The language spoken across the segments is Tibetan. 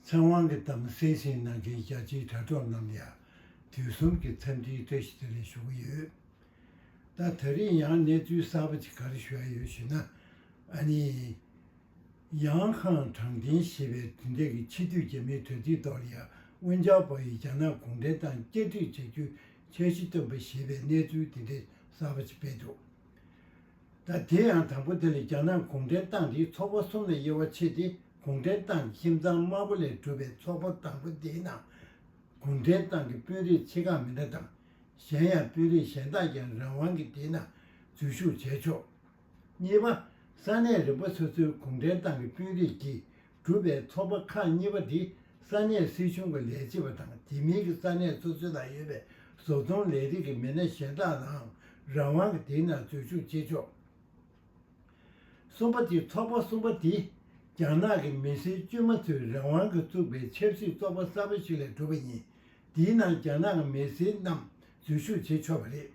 ཚེ་དབང་གི་གཏམ་གསལ་བཤད་གནང་མཁན་རྒྱ་ཆེའི་དྲ་གྲོགས་རྣམས་ཡང་དུས་གསུམ་གྱི་འཚམས་འདྲིའི་བཀྲ་ཤིས་བདེ་ལེགས་ཞུ་གི་ཡོད། ད་ད་རིང་ཡང་གནས་ཚུལ་གསར་པ་ཅིག་ག་རེ་བཞག་ཡོད་ཞུས་ན། ཨ་ནི། ཡང་ཁང་དྲང་བདེན་ཞེས་པའི་དུས་འདས་ཀྱི་ཕྱི་དུས་རྒྱ་མའི་དྲ་ཚིགས་ཐོག་ལ་ཡང་དབོན་ཇག་པ་ཡིས་རྒྱ་ནག་གུང་ཁྲན་ཏང་བསྐྱར་སྒྲིག་བྱ་རྒྱུའི་འཆར་གཞི་བཏོན་པ་ཞེས་པའི་གནས་ཚུལ་དེ་འདྲའི་གསར་པ་ཅིག་སྤེལ་འདུག། ད་དེ་ཡང་དང་པོ་དེ་ལས་རྒྱ་ནག་གུང་ཁྲན་ཏང་དེའི་ཚོགས་པ་གསུམ་ལས་དབྱེ་བ་ཕྱེ་སྟེ་གུང་ཁྲན་ཏང་ཁྱིམ་ཚང་དམར་པོ་ལས་གྲུབ་པའི་ཚོགས་པ་དང་པོ་དེའི་ནང་གུང་ཁྲན་ཏང་གི་དཔོན་རིགས་ཆེ་ཁག་མི་འདྲ་དང། གཞན་ཡང་དཔོན་རིགས་གཞན་དག་ཀྱང་རང་དབང་གིས་དེའི་ནང་འཛུལ་ཞུགས་བྱས་ཆོག། གཉིས་པ། ས་གནས་རིམ་པ་སོ་སོའི་གུང་ཁྲན་ཏང་གི་དཔོན་རིགས་ཀྱིས་གྲུབ་པའི་ཚོགས་པ་ཁག་གཉིས་པ་དེ་ས་གནས་སྲིད་གཞུང་གི་ལས་བྱེད་པ་དང་དེ་མིན་གྱི་ས་གནས་སོ་སོའི་ནང་ཡོད་པའི་བཟོ་ཚོང་ལས་རིགས་ཀྱི་མི་སྣ་གཞན་དག་ལའང་རང་དབང་གིས་དེའི་ནང་འཛུལ་ཞུགས་བྱེད་ཆོག། གསུམ་པ་དེ་ཚོགས་པ་གསུམ་པ་དེ་རྒྱ་ནག་གི་མི་སེར་དཀྱུས་མ་ཚོས་རང་དབང་གིས་བཙུགས་པའི་ཆབ་སྲིད་ཚོགས་པ་གསར་པ་ཞིག་ལས་གྲུབ་པ་ཡིན། དེའི་ནང་རྒྱ་ནག་གི་མི་སེར་རྣམས་འཛུལ་ཞུགས་བྱེད་ཆོག་པ་རེད།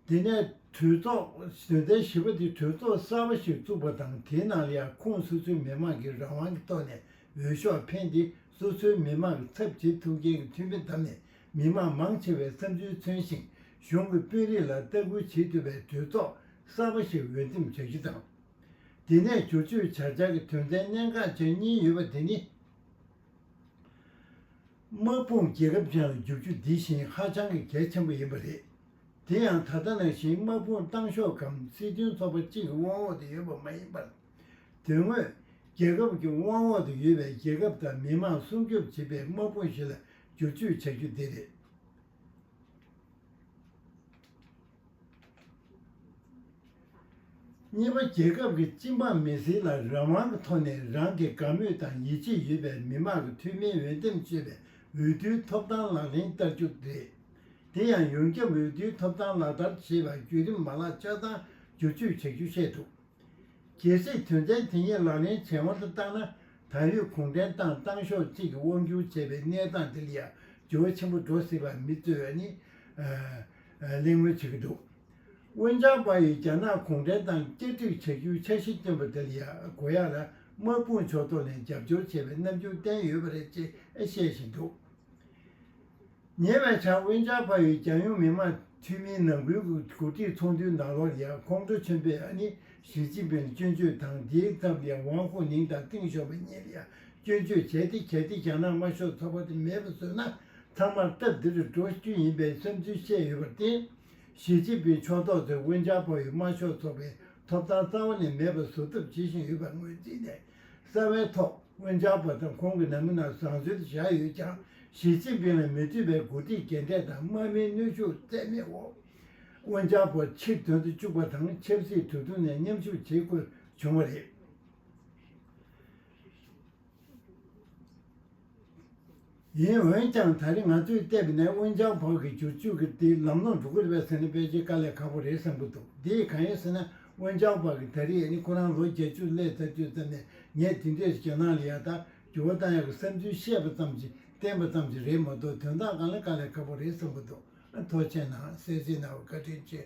དེ་ནས་གྲོས་ཚོགས་དོན་ཚན་བཞི་པ་དེ་གྲོས་ཚོགས་གསར་པ་ཞིག་བཙུགས་པ་དང་དེའི་ནང་ལས་ཁུངས་སོ་སོའི་མི་མང་གིས་རང་དབང་གི་ཐོག་ནས་འོས་ཤོག་འཕེན་ཏེ་སོ་སོའི་མི་མང་གི་ཚབ་བྱེད་ཐུབ་མཁན་གྱི་འཐུས་མི་བདམས་ནས་མི་མང་མང་ཆེ་བའི་བསམ་ཚུལ་མཚོན་ཞིང་གཞུང་གི་དཔོན་རིགས་ལ་ལྟ་སྐུལ་བྱེད་ཐུབ་པའི་གྲོས་ཚོགས་གསར་པ་ཞིག་འོས་འདེམས་བྱ་རྒྱུ་དང། དེ་ནས་བསྒྱུར་བཅོས་བྱ་འཆར་གྱི་དོན་ཚན་གནད་འགག་ཅན་གཉིས་ཡོད་པ་དེ་ནི། དམག་དཔུང་རྒྱལ་ཁབ་ཅིག་ལ་བསྒྱུར་རྒྱུ་འདི་བཞིན་ཧ་ཅང་གི་གལ་ཆེན་པོ་ཡིན་པ་རེད། དེ་ཡང་ད་ལྟ་ནང་བཞིན་དམག་དཔུང་བཏང་ཤོག་གམ་སྲིད་དོན་ཚོགས་པ་གཅིག་གི་དབང་འོག་ཏུ་ཡོད་པ་མ་ཡིན་པར། དོན་དངོས། རྒྱལ་ཁབ་ཀྱི་དབང་འོག་ཏུ་ཡོད་པའི་རྒྱལ་ཁབ་དང་མི་དམངས་སྲུང་སྐྱོབ་བྱེད་པའི་དམག་དཔུང་ཞིག་ལ་བསྒྱུར་བཅོས་བྱ་རྒྱུ་དེ་རེད། གཉིས་པ་རྒྱལ་ཁབ་ཀྱི་སྤྱི་འབངས་མི་སེར་ལ་རང་དབང་གི་ཐོག་ནས་རང་གི་དགའ་མོས་དང་ཡིད་ཆེས་ཡོད་པའི་མི་མང་གི་འཐུས་མིའི་འོས་འདེམས་སྤྱོད་པའི་འོས་བསྡུའི་ཐོབ་ཐང་ལག་ལེན་བསྟར་རྒྱུ་རེད། དེ་ཡང་ཡོངས་ཁྱབ་འོས་བསྡུའི་ཐོབ་ཐང་ལག་བསྟར་བྱེད་པར་བརྒྱུད་རིམ་མ་ལག་ཆ་ཚང་བསྒྱུར་བཅོས་བྱ་རྒྱུ་བཤད་འདུག། གལ་སྲིད་དོན་ཚན་དེ་གཉིས་ལག་ལེན་བྱེད་དབང་དུ་བཏང་ན་ད་ཡོད་གུང་ཁྲན་ཏང་ཏང་ཤོག་གཅིག་གིས་དབང་སྒྱུར་བྱས་པའི་གནས་སྟངས་འདིར་ཡང་འགྱུར་བ་ཆེན་པོ་འགྲོ་སྲིད་པར་མི་རྩོད་བས་ནི། གླེང་མོལ་བྱེད་ཀྱི་འདུག་དབོན་ཅང་པ་ཡིས་རྒྱ་ནག་གུང་ཁྲན་ཏང་བསྐྱར་སྒྲིག་བྱ་རྒྱུའི་འཆར་གཞི་བཏོན་པ་འདིར་ཡང་གོ་ཡག་ལ་དམག་དཔུང་ཕྱོགས་གཏོགས་ནས་རྒྱབ་སྐྱོར་བྱས་པའི་རྣམ་འགྱུར་བསྟན་ཡོད་པ་རེད་ཅེས་བཤད་བཞིན་འདུག། ཉེ་བའི་ཆར་དབོན་ཇག་ཕ་ཡུལ་རྒྱལ་ཡོངས་མི་དམངས་འཐུས་མིའི་ནང་ཁུལ་གྱི་གོ་སྒྲིག་ཚོགས་འདུའི་ནང་ལོར་ཡང་ཁོང་ཁྲོ་ཆེན་པོས་ཨ་ནི་ཞི་ཅིན་ཕིང་ལ་སྐྱོན་བརྗོད་དང་དེའི་མཚམས་ཀྱི་ཝང་ཧོ་ནིང་དང་ཏིང་ཞོ་པ་གཉིས་ལ་ཡང་སྐྱོན་བརྗོད་བྱས་ཏེ་གལ་ཏེ་རྒྱ་ནག་དམར་ཤོག་ཚོགས་པ་དེ་མེད་པར་བཟོས་ན་ཚང་མར་སྟབས་བདེ་རུ་འགྲོ་རྒྱུ་ཡིན་པའི་བསམ་ཚུལ་བཤད་ཡོད་པར་བརྟེན། ཞི་ཅིན་ཕིང་ཕྱོགས་གཏོགས་ཚོས་དབོན་ཇག་ཕ་ཡུལ་དམར་ཤོག་ཚོགས་པའི་ཐོབ་ཐང་རྩ་བ་ནས་མེད་པར་བཟོ་ཐབས་བྱེད་བཞིན་ཡོད་པར་ངོས་འཛིན་ནས་གསར་བའི་ཐོག་དབུ་འཇགས་པ་དང་ཁོང་གི་ནང་མི་རྣམས་བཟང་སྤྱོད་དུ་བཞག་ཡོད་ཀྱང་ཞི་ཅིན་ཕིང་ལ་མི་མཐུན་པའི་འགོ་ཁྲིད་རྒྱན་སྤྲས་དང་དམག་མིའི་གནོད་ཤུགས་རྩད་མེད་འོག་དབུ་འཇགས་པ་ཕྱིར་དོན་དུ་བཅུག་པ་དང་ཆབ་སྲིད་དུས་ཐུང་ནས་མཉམ་ཞུགས་བྱེད་དགོས་བྱུང་བ་རེད། ཡིན་འོན་ཀྱང་ད་རེས་ང་ཚོས་བལྟས་པ་ནས་དབོན་ཅང་བག་གི་བྱུར་བཅོས་ཀྱི་དེའི་ལམ་ལྷོངས་འགྲོ་གི་རེད་པ་ཟེར་ན་དཔེ་ཆའི་དཀའ་ལས་ཁག་པོ་རེད་བསམ་གྱི་འདུག་དེ་ཡིས་གང་ཡིན་ཟེར་ན་དབོན་ཅང་བག་གིས་ད་རེས་ནི་ཁོ་རང་ལོ་བརྒྱད་ཅུ་ལྷའི་ཚབ་བསྐྱོན་ཙམ་ནས་ངས་དེ་འདྲའི་ཞེད་སྣང་ལས་ཡག་ཐག་འགྱུར་བ་གཏང་ཡག་གི་བསམ་ཚུལ་བཤད་པ་ཙམ་གྱིས་བསྟན་པ་ཙམ་གྱིས་རེད་མ་གཏོགས་དོན་དག་གང་ལ་དཀའ་ལས་ཁག་པོ་རེད་བསམ་གྱི་འདུག་ཐོག་མཆན་ནང་གསལ་བྱེད་གནང་བར་བཀའ་དྲིན་ཆེ།